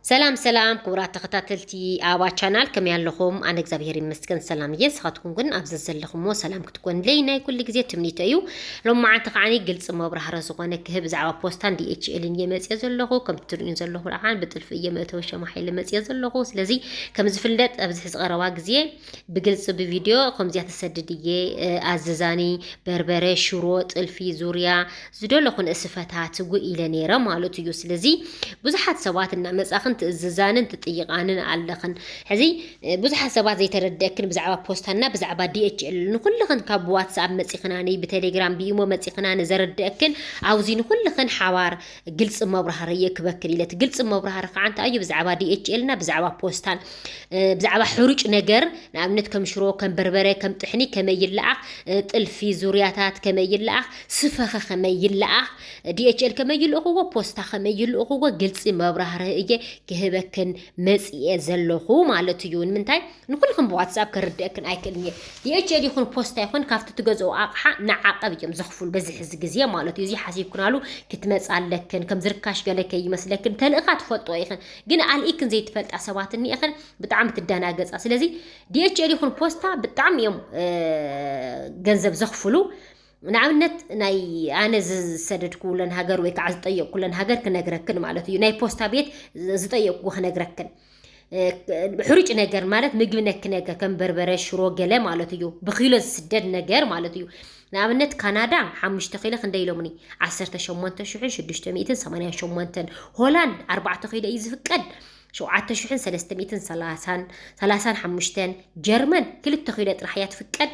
ሰላም ሰላም ክቡራት ተኸታተልቲ ኣባ ቻናል ከመይ ኣለኹም? ኣነ እግዚኣብሄር ይመስገን ሰላም እየ። ንስኻትኩም ግን ኣብ ዘዘለኹምዎ ሰላም ክትኮንለይ ናይ ኩሉ ግዜ ትምኒቶ እዩ። ሎም መዓንቲ ከዓኒ ግልፂ መብራህረ ዝኾነ ክህብ ብዛዕባ ፖስታን ዲኤችኤልን እየ መፅኦ ዘለኹ። ከምቲ ትርእዩን ዘለኹ ከዓ ብጥልፊ እየ መእተዊ ሸማ ሓይለ መፅኦ ዘለኹ። ስለዚ ከም ዝፍለጥ ኣብዚ ሕዚ ቀረባ ግዜ ብግልፂ ብቪድዮ ከምዚያ ተሰድድ እየ ኣዝዛኒ በርበረ፣ ሽሮ፣ ጥልፊ፣ ዙርያ፣ ዝደለኹ ንእስፈታት ጉእ ኢለ ነይረ ማለት እዩ ስለዚ ብዙሓት ሰባት እናመጻኽን ትእዝዛንን ትጥይቃንን ኣለኽን ሕዚ ብዙሓት ሰባት ዘይተረድእክን ብዛዕባ ፖስታና ብዛዕባ ዲኤችኤል ንኹልኽን ካብ ብዋትስኣፕ መጺኽናኒ ብቴሌግራም ብኢሞ መጺኽናኒ ዘረድእክን ኣብዚ ንኹልኽን ሓባር ግልፂ መብራህሪ እየ ክበክን ኢለት ግልፂ መብራህሪ ከዓ እንታይ እዩ ብዛዕባ ዲኤችኤልና ብዛዕባ ፖስታን ብዛዕባ ሕሩጭ ነገር ንኣብነት ከም ሽሮ ከም በርበረ ከም ጥሕኒ ከመይ ይለኣኽ ጥልፊ ዙርያታት ከመይ ይለኣኽ ስፈኸ ከመይ ይለኣኽ፣ DHL ከመይ ይልእኽዎ፣ ፖስታ ከመይ ይልእኽዎ ግልፂ መብራህርሂ እየ ክህበክን መፂኤ ዘለኹ ማለት እዩ። ንምንታይ ንኹልኽን ብዋትስኣፕ ከርድእክን ኣይክእልን እየ። DHL ይኹን ፖስታ ይኹን ካብቲ ትገዝኦ ኣቕሓ ንዓቐብ እዮም ዘኽፍሉ በዚ ሕዚ ግዜ ማለት እዩ። እዚ ሓሲብክናሉ ክትመፅ ኣለክን ከም ዝርካሽ ገለ ከይመስለክን ተልእኻ ትፈልጦ ኢኽን ግን ኣልኢክን ዘይትፈልጣ ሰባት እኒኤኽን ብጣዕሚ ትደናገፃ። ስለዚ DHL ይኹን ፖስታ ብጣዕሚ እዮም ገንዘብ ዘኽፍሉ። ንኣብነት ናይ ኣነ ዝሰደድክውለን ሃገር ወይ ከዓ ዝጠየቕኩለን ሃገር ክነግረክን ማለት እዩ ናይ ፖስታ ቤት ዝጠየቕኩ ክነግረክን ሕሩጭ ነገር ማለት ምግቢ ነክ ነገር ከም በርበረ ሽሮ ገለ ማለት እዩ ብኪሎ ዝስደድ ነገር ማለት እዩ ንኣብነት ካናዳ ሓሙሽተ ኪሎ ክንደይ ኢሎምኒ ዓሰርተ ሸሞንተ ሽሕን ሽዱሽተ ሚእትን ሰማንያን ሸሞንተን ሆላንድ ኣርባዕተ ኪሎ እዩ ዝፍቀድ ሸውዓተ ሽሕን ሰለስተ ሚእትን ሰላሳን ሰላሳን ሓሙሽተን ጀርመን ክልተ ኪሎ ጥራሕ እያ ትፍቀድ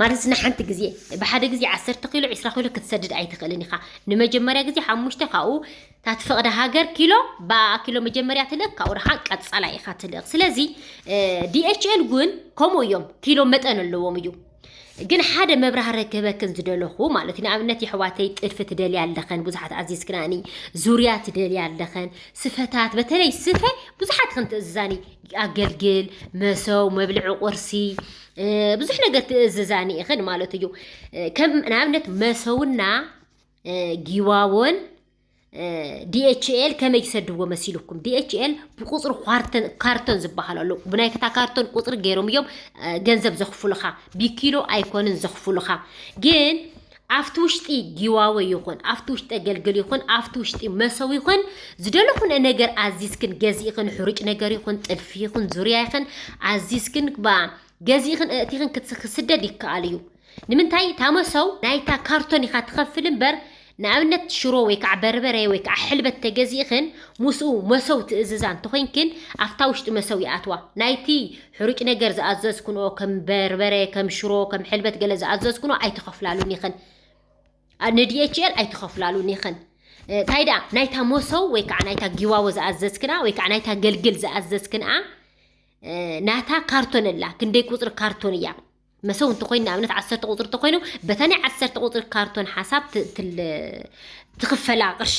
ማለት ንሓንቲ ግዜ ብሓደ ግዜ ዓሰርተ ኪሎ ዒስራ ኪሎ ክትሰድድ ኣይትኽእልን ኢኻ ንመጀመርያ ግዜ ሓሙሽተ ካብኡ እታ ትፈቕደ ሃገር ኪሎ ብኣኣ ኪሎ መጀመርያ ትልእኽ ካብኡ ረኻ ቀጻላ ኢኻ ትልእኽ ስለዚ ዲኤችኤል እውን ከምኡ እዮም ኪሎ መጠን ኣለዎም እዩ ግን ሓደ መብራህረ ክህበክን ዝደለኹ ማለት እዩ ንኣብነት የሕዋተይ ጥልፊ ትደልያ ኣለኸን ብዙሓት ኣዚዝክናኒ ዙርያ ትደልያ ኣለኸን ስፈታት በተለይ ስፈ ብዙሓት ክን ትእዝዛኒ ኣገልግል መሰው መብልዒ ቁርሲ ብዙሕ ነገር ትእዝዛኒ ኢኽን ማለት እዩ ከም ንኣብነት መሰውና ጊዋቦን ዲኤችኤል ከመይ ይሰድዎ መሲልኩም ዲኤችኤል ብቁፅሪ ኳርተን ካርቶን ዝበሃል ኣሎ ብናይ ክታ ካርቶን ቁፅሪ ገይሮም እዮም ገንዘብ ዘኽፍሉኻ ቢኪሎ ኣይኮንን ዘኽፍሉኻ ግን ኣብቲ ውሽጢ ጊዋወ ይኹን ኣብቲ ውሽጢ ኣገልግል ይኹን ኣብቲ ውሽጢ መሰው ይኹን ዝደለኹን ነገር ኣዚዝክን ገዚእኽን ሕሩጭ ነገር ይኹን ጥልፊ ይኹን ዙርያ ይኽን ኣዚዝክን ባ ገዚእኽን እእቲኽን ክትስ- ክስደድ ይከኣል እዩ ንምንታይ እታ መሰው ናይታ ካርቶን ኢኻ ትኸፍል እምበር ንኣብነት ሽሮ ወይ ከዓ በርበረ ወይ ከዓ ሕልበት ተገዚእኽን ምስኡ መሰው ትእዝዛ እንተኾይንክን ኣብታ ውሽጢ መሰው ይኣትዋ ናይቲ ሕሩጭ ነገር ዝኣዘዝክንኦ ከም በርበረ ከም ሽሮ ከም ሕልበት ገለ ዝኣዘዝክንኦ ኣይትኸፍላሉን ኢኽን ንዲኤችኤል ኣይትኸፍላሉን ኢኽን እንታይ ደኣ ናይታ መሶብ ወይ ከዓ ናይታ ጊዋዎ ዝኣዘዝክና ወይ ከዓ ናይታ ገልግል ዝኣዘዝክንኣ ናታ ካርቶን ኣላ ክንደይ ቁፅሪ ካርቶን እያ መሰው እንተኾይኑ ንኣብነት ዓሰርተ ቁፅሪ እንተኾይኑ በታ ናይ ዓሰርተ ቁፅሪ ካርቶን ሓሳብ ትኽፈላ ቅርሺ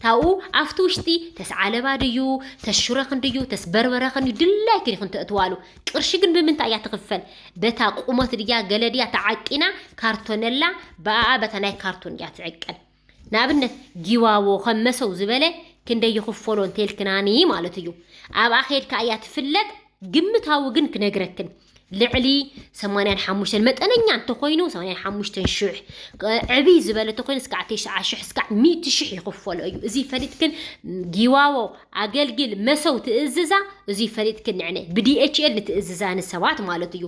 ታብኡ ኣብቲ ውሽጢ ተስዓለባ ድዩ ተሽረኽን ድዩ ተስበርበረኽን እዩ ድላይክን ይኹን ተእትዋሉ ቅርሺ ግን ብምንታይ እያ ትኽፈል በታ ቁመት ድያ ገለ ድያ ተዓቂና ካርቶነላ ብኣኣ በታ ናይ ካርቶን እያ ትዕቀን ንኣብነት ጊዋዎ ከም መሰው ዝበለ ክንደይ ይኽፈሎ እንተልክናኒ ማለት እዩ ኣብኣ ከድካ እያ ትፍለጥ ግምታዊ ግን ክነግረክን ልዕሊ 85 መጠነኛ እንተኾይኑ 85 ሽሕ ዕብይ ዝበለ እንተኾይኑ እስካዕ 90 ሽሕ እስካዕ 100 ሽሕ ይኽፈሎ እዩ እዚ ፈሊጥክን ጊዋዎ ኣገልግል መሰው ትእዝዛ እዚ ፈሊጥክን ንዕነ ብዲኤችኤል ንትእዝዛ ንሰባት ማለት እዩ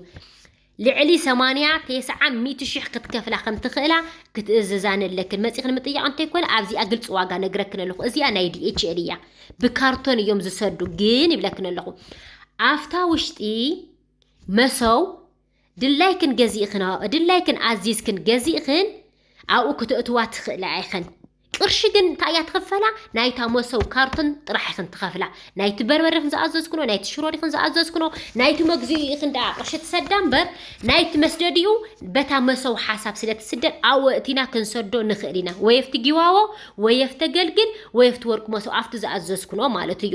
ልዕሊ ሰማንያ ቴስዓ ሚእቲ ሽሕ ክትከፍላ ከም ትኽእላ ክትእዝዛን ኣለክን። መጺኽን ምጥያቕ እንተይኮነ ኣብዚኣ ግልጺ ዋጋ ነግረክን ኣለኹ። እዚኣ ናይ ዲኤችኤል እያ። ብካርቶን እዮም ዝሰዱ ግን ይብለክን ኣለኹ። ኣፍታ ውሽጢ መሰው ድላይክን ገዚእክን ድላይክን ኣዚዝክን ገዚእክን ኣብኡ ክተእትዋ ትኽእላ ኢኽን። ቅርሺ ግን እንታይ እያ ትኽፈላ? ናይታ መሶብ ካርቶን ጥራሕ ኢኽን ትኸፍላ። ናይቲ በርበረ ኢኽን ዝኣዘዝክኖ፣ ናይቲ ሽሮ ዲኽን ዝኣዘዝክኖ፣ ናይቲ መግዚኡ ኢኽን ደኣ ቅርሺ ትሰዳ እምበር ናይቲ መስደዲኡ በታ መሶብ ሓሳብ ስለ ትስደድ ኣብኡ ኣእቲና ክንሰዶ ንኽእል ኢና። ወይ ኣብቲ ጊዋዎ፣ ወይ ኣብቲ ኣገልግል፣ ወይ ኣብቲ ወርቂ መሶብ ኣብቲ ዝኣዘዝክኖ ማለት እዩ።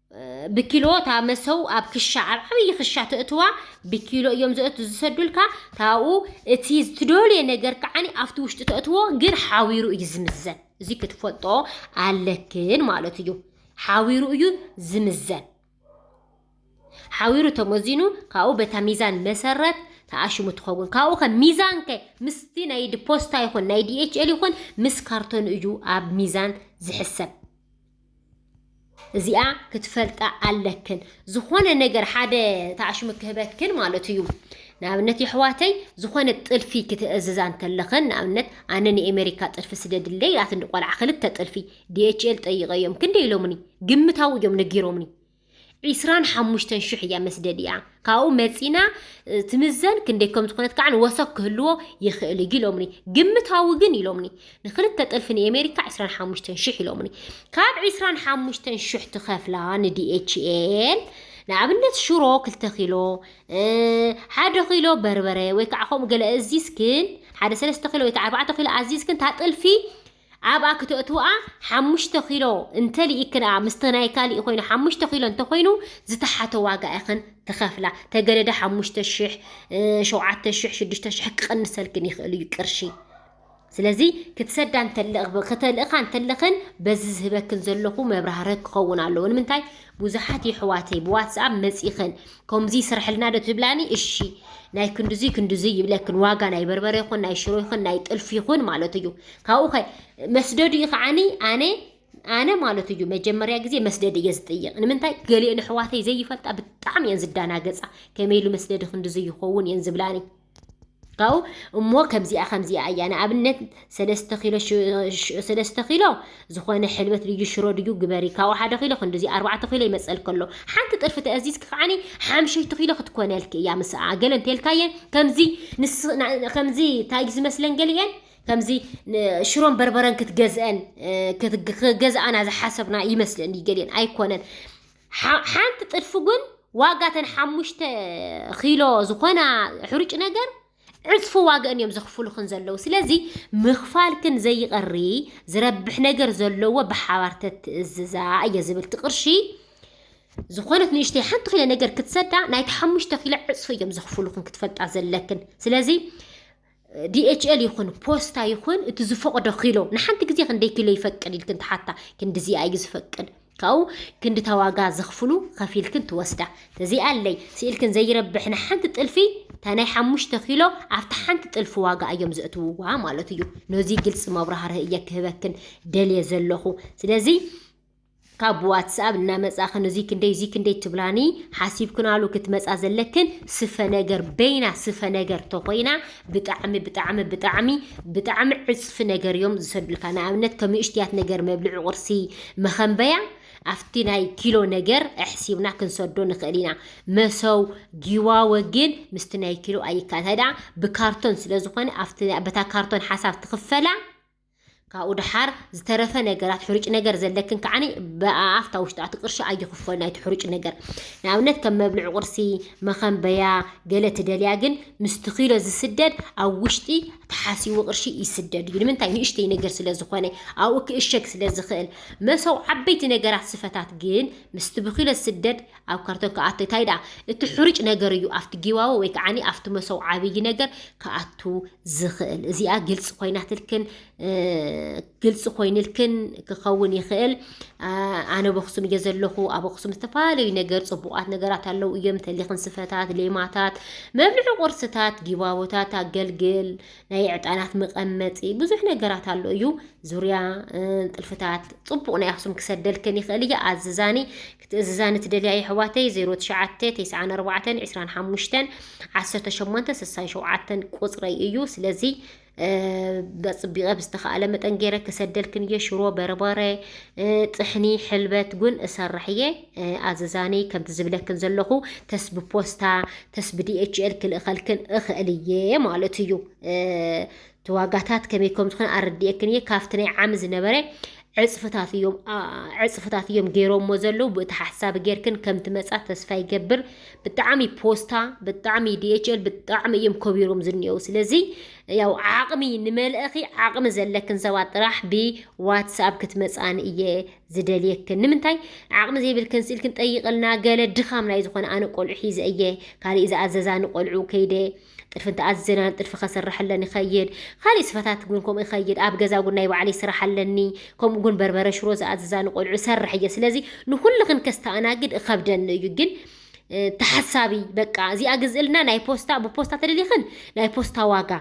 ብኪሎ እታ መሰው ኣብ ክሻ ኣብ ዓብዪ ክሻ ተእትዋ ብኪሎ እዮም ዘእቱ ዝሰዱልካ ታብኡ እቲ ዝትደልየ ነገር ከዓኒ ኣብቲ ውሽጢ ተእትዎ ግን ሓዊሩ እዩ ዝምዘን እዚ ክትፈልጦ ኣለክን ማለት እዩ ሓዊሩ እዩ ዝምዘን ሓዊሩ ተመዚኑ ካብኡ በታ ሚዛን መሰረት ተኣሽሙ ትኸውን ካብኡ ከ ሚዛን ከ ምስቲ ናይ ፖስታ ይኹን ናይ ዲኤችኤል ይኹን ምስ ካርቶን እዩ ኣብ ሚዛን ዝሕሰብ እዚኣ ክትፈልጣ ኣለክን ዝኾነ ነገር ሓደ ታዕሽሙ ክህበክን ማለት እዩ ንኣብነት የሕዋተይ ዝኾነ ጥልፊ ክትእዝዛ እንተለኽን ንኣብነት ኣነ ንኤሜሪካ ጥልፊ ስደድለይ ኢላትኒ ቆልዓ ክልተ ጥልፊ ዲኤችኤል ጠይቀዮም ክንደይ ኢሎምኒ ግምታዊ እዮም ነጊሮምኒ ዒስራን ሓሙሽተን ሽሕ እያ መስደዲኣ ካብኡ መፂና ትምዘን ክንደይ ከም ዝኾነት ከዓ ወሰክ ክህልዎ ይኽእል እዩ ኢሎምኒ ግምታዊ ግን ኢሎምኒ ንክልተ ጥልፊ ንኤሜሪካ ዒስራን ሓሙሽተን ሽሕ ኢሎምኒ ካብ ዒስራን ሓሙሽተን ሽሕ ትኸፍላ ንዲኤችኤል ንኣብነት ሽሮ ክልተ ኪሎ ሓደ ኪሎ በርበረ ወይ ከዓ ከምኡ ገለ እዚዝክን ሓደ ሰለስተ ኪሎ ወይ ከዓ ኣርባዕተ ኪሎ ኣዚዝክን እታ ጥልፊ ኣብኣ ክተእትውኣ ሓሙሽተ ኪሎ እንተ ሊኢክንኣ ምስቲ ናይ ካሊእ ኮይኑ ሓሙሽተ ኪሎ እንተ ኮይኑ ዝተሓተ ዋጋ ኢኽን ትኸፍላ ተገደደ ሓሙሽተ ሽሕ ሸውዓተ ሽሕ ሽዱሽተ ሽሕ ክቕንሰልክን ይኽእል እዩ ቅርሺ ስለዚ ክትሰዳ እንተለኽ ከተልእኻ እንተለኽን በዚ ዝህበክን ዘለኹ መብራህርህ ክኸውን ኣለዎ ንምንታይ ቡዙሓት የሕዋተይ ብዋትስኣብ መጺኽን ኮምዙይ ስርሕልና ዶ ትብላኒ እሺ ናይ ክንዱዙይ ክንዱዙይ ይብለክን ዋጋ ናይ በርበረ ይኹን ናይ ሽሮ ይኹን ናይ ጥልፊ ይኹን ማለት እዩ ካብኡ ከ መስደዱ እዩ ከዓኒ ኣነ ኣነ ማለት እዩ መጀመርያ ግዜ መስደድ እየ ዝጥይቕ ንምንታይ ገሊኤን ኣሕዋተይ ዘይፈልጣ ብጣዕሚ እየን ዝዳናገፃ ከመይ ኢሉ መስደዲ ክንድዚ ይኸውን እየን ዝብላኒ እሞ ከምዚኣ ከምዚኣ እያ ንኣብነት ሰለስተ ኪሎ ሰለስተ ኪሎ ዝኾነ ሕልበት ድዩ ሽሮ ድዩ ግበሪ ካብኡ ሓደ ኪሎ ክንዲዚ ኣርባዕተ ኪሎ ይመፀል ከሎ ሓንቲ ጥርፊ ተኣዚዝኪ ከዓኒ ሓምሸይቲ ኪሎ ክትኮነልኪ እያ ምስኣ ገለ እንተልካየን ከምዚ ከምዚ እንታይ እዩ ዝመስለን ገሊአን ከምዚ ሽሮን በርበረን ክትገዝአን ክገዝኣና ዝሓሰብና ይመስለኒ ገሊአን ኣይኮነን ሓንቲ ጥልፊ ግን ዋጋ ተን ሓሙሽተ ኪሎ ዝኾና ሕሩጭ ነገር ዕፅፊ ዋግአን እዮም ዘኽፍሉኽን ዘለዉ ስለዚ ምኽፋልክን ዘይቐሪ ዝረብሕ ነገር ዘለዎ ብሓባር ተትእዝዛ እየ ዝብል እቲ ቅርሺ ዝኾነት ንእሽተይ ሓንቲ ኪሎ ነገር ክትሰዳ ናይቲ ሓሙሽተ ኪሎ ዕፅፊ እዮም ዘኽፍሉኽን ክትፈልጣ ዘለክን ስለዚ ዲኤችኤል ይኹን ፖስታ ይኹን እቲ ዝፈቕዶ ኪሎ ንሓንቲ ግዜ ክንደይ ኪሎ ይፈቅድ ኢልክን ትሓታ ክንዲዚኣ እዩ ዝፈቅድ ካብኡ ክንዲ ተዋጋ ዘኽፍሉ ከፊልክን ትወስዳ ተዚኣ ኣለይ ስኢልክን ዘይረብሕ ንሓንቲ ጥልፊ እታ ናይ ሓሙሽተ ኪሎ ኣብቲ ሓንቲ ጥልፊ ዋጋ እዮም ዘእትውዋ ማለት እዩ ነዚ ግልፂ መብራህርህ እየ ክህበክን ደልየ ዘለኹ ስለዚ ካብ ብዋትስኣብ እናመጻኽን እዙይ ክንደይ እዙይ ክንደይ ትብላኒ ሓሲብክናሉ ክትመጻ ዘለክን ስፈ ነገር በይና ስፈ ነገር ተኾይና ብጣዕሚ ብጣዕሚ ብጣዕሚ ብጣዕሚ ዕጽፊ ነገር እዮም ዝሰዱልካ ንኣብነት ከምእሽትያት ነገር መብልዒ ቁርሲ መኸንበያ ኣብቲ ናይ ኪሎ ነገር ኣሕሲብና ክንሰዶ ንኽእል ኢና መሰው ጊዋወ ግን ምስቲ ናይ ኪሎ ኣይካል ብካርቶን ስለዝኾነ ኣብቲ በታ ካርቶን ሓሳብ ትኽፈላ ካብኡ ደሓር ዝተረፈ ነገራት ሕሩጭ ነገር ዘለክን ከዓኒ ብኣፍታ ውሽጣ እቲ ቅርሺ ኣይኽፈሉ ናይቲ ሕሩጭ ነገር ንኣብነት ከም መብልዒ ቁርሲ መኸንበያ ገለ ትደልያ ግን ምስቲ ኪሎ ዝስደድ ኣብ ውሽጢ ተሓሲቡ ቅርሺ ይስደድ እዩ ንምንታይ ንእሽተይ ነገር ስለ ዝኾነ ኣብኡ ክእሸግ ስለ ዝኽእል መሰው ዓበይቲ ነገራት ስፈታት ግን ምስቲ ብኪሎ ዝስደድ ኣብ ካርቶን ክኣቱ እታይ ደኣ እቲ ሑርጭ ነገር እዩ ኣብቲ ጊዋዎ ወይ ከዓኒ ኣብቲ መሶብ ዓብይ ነገር ክኣቱ ዝኽእል እዚኣ ግልፂ ኮይናትልክን ግልፂ ኮይንልክን ክኸውን ይኽእል ኣነ ኣብ ኣክሱም እየ ዘለኹ ኣብ ኣክሱም ዝተፈላለዩ ነገር ፅቡቃት ነገራት ኣለው እዮም ተሊኽን ስፈታት ሌማታት መብልዒ ቁርስታት ጊባቦታት ኣገልግል ናይ ዕጣናት መቐመጢ ብዙሕ ነገራት ኣሎ እዩ ዙርያ ጥልፍታት ፅቡቅ ናይ ኣክሱም ክሰደልክን ይኽእል እየ ኣዝዛኒ ክትእዝዛኒ ትደልያ የሕዋተይ ዜሮ ትሽዓተ ቴስዓን ኣርባዕተን ዕስራን ሓሙሽተን ዓሰርተ ሸሞንተ ስሳን ሸውዓተን ቁጽረይ እዩ ስለዚ በጽቢቐ ብዝተኻእለ መጠን ገይረ ክሰደልክን እየ ሽሮ በርበረ ጥሕኒ ሕልበት ጉን እሰርሕ እየ ኣዘዛኒ ከምቲ ዝብለክን ዘለኹ ተስ ብፖስታ ተስ ብዲኤችኤል ክልእኸልክን እኽእል እየ ማለት እዩ እቲ ዋጋታት ከመይ ከም ዝኾነ ኣረዲኤክን እየ ካብቲ ናይ ዓሚ ዝነበረ ዕፅፍታት እዮም ዕፅፍታት እዮም ገይሮሞ ዘለዉ ብእቲ ሓሳብ ጌርክን ከም ትመፃ ተስፋ ይገብር ብጣዕሚ ፖስታ ብጣዕሚ ዲኤችኤል ብጣዕሚ እዮም ከቢሮም ዝኒኤው ስለዚ ያው ዓቕሚ ንመልእኺ ዓቕሚ ዘለክን ሰባት ጥራሕ ብዋትስኣፕ ክትመፃኒ እየ ዝደልየክን ንምንታይ ዓቕሚ ዘይብልክን ስኢልክን ጠይቕልና ገለ ድኻም ናይ ዝኾነ ኣነ ቆልዑ ሒዘ እየ ካሊእ ዝኣዘዛኒ ቆልዑ ከይደ ጥርፊ እንተኣዘና ጥርፊ ከስርሐለን ይኸይድ ካሊእ ስፈታት እውን ከምኡ ይኸይድ ኣብ ገዛ እውን ናይ ባዕለይ ስራሕ ኣለኒ ከምኡ እውን በርበረ ሽሮ ዝኣዝዛ ንቆልዑ ሰርሕ እየ ስለዚ ንኩልኽን ከስተኣናግድ እኸብደኒ እዩ ግን ተሓሳቢ በቃ እዚኣ ግዝእልና ናይ ፖስታ ብፖስታ ተደሊኽን ናይ ፖስታ ዋጋ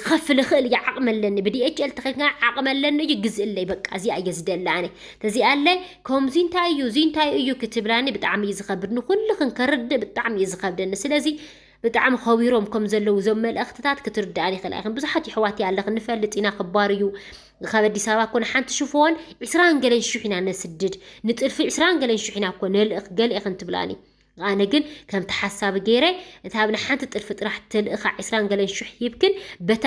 ክኸፍል እኽእል እየ ዓቕሚ ኣለኒ ብዲኤችኤል ተኸፍና ዓቕሚ ኣለኒ እዩ ግዝእለይ በቃ እዚኣ እየ ዝደሊ ኣነ ተዚኣለይ ከምዚ እንታይ እዩ እዚ እንታይ እዩ ክትብላኒ ብጣዕሚ እዩ ዝኸብድ ንኩልኽን ከርድእ ብጣዕሚ እዩ ዝኸብደኒ ስለዚ ብጣዕሚ ከዊሮም ከም ዘለዉ እዞም መልእኽትታት ክትርድኣን ይኽእላ ኢኽን ብዙሓት ይሕዋት ኣለኽ ንፈልጥ ኢና ክባር እዩ ካብ ኣዲስ ኣበባ ኮነ ሓንቲ ሽፎን ዕስራን ገለን ሽሕ ኢና ነስድድ ንጥልፊ ዕስራን ገለን ሽሕ ኢና እኮ ነልእኽ ገለ ኢኽን ትብላኒ ኣነ ግን ከምቲ ሓሳቢ ገይረ እታ ኣብ ንሓንቲ ጥልፊ ጥራሕ ተልእኻ ዕስራን ገለን ሽሕ ሂብክን በታ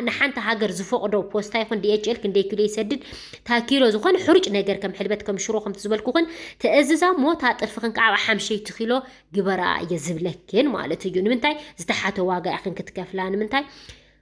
ንሓንቲ ሃገር ዝፈቕዶ ፖስታ ይኹን ዲኤችኤል ክንደይ ኪሎ ይሰድድ እታ ኪሎ ዝኾነ ሕሩጭ ነገር ከም ሕልበት ከም ሽሮ ከምቲ ዝበልኩኽን ተእዝዛ እሞ እታ ጥልፍኽን ከዓ ሓምሸይቲ ኪሎ ግበራ እየ ዝብለክን ማለት እዩ ንምንታይ ዝተሓተ ዋጋ ኢኽን ክትከፍላ ንምንታይ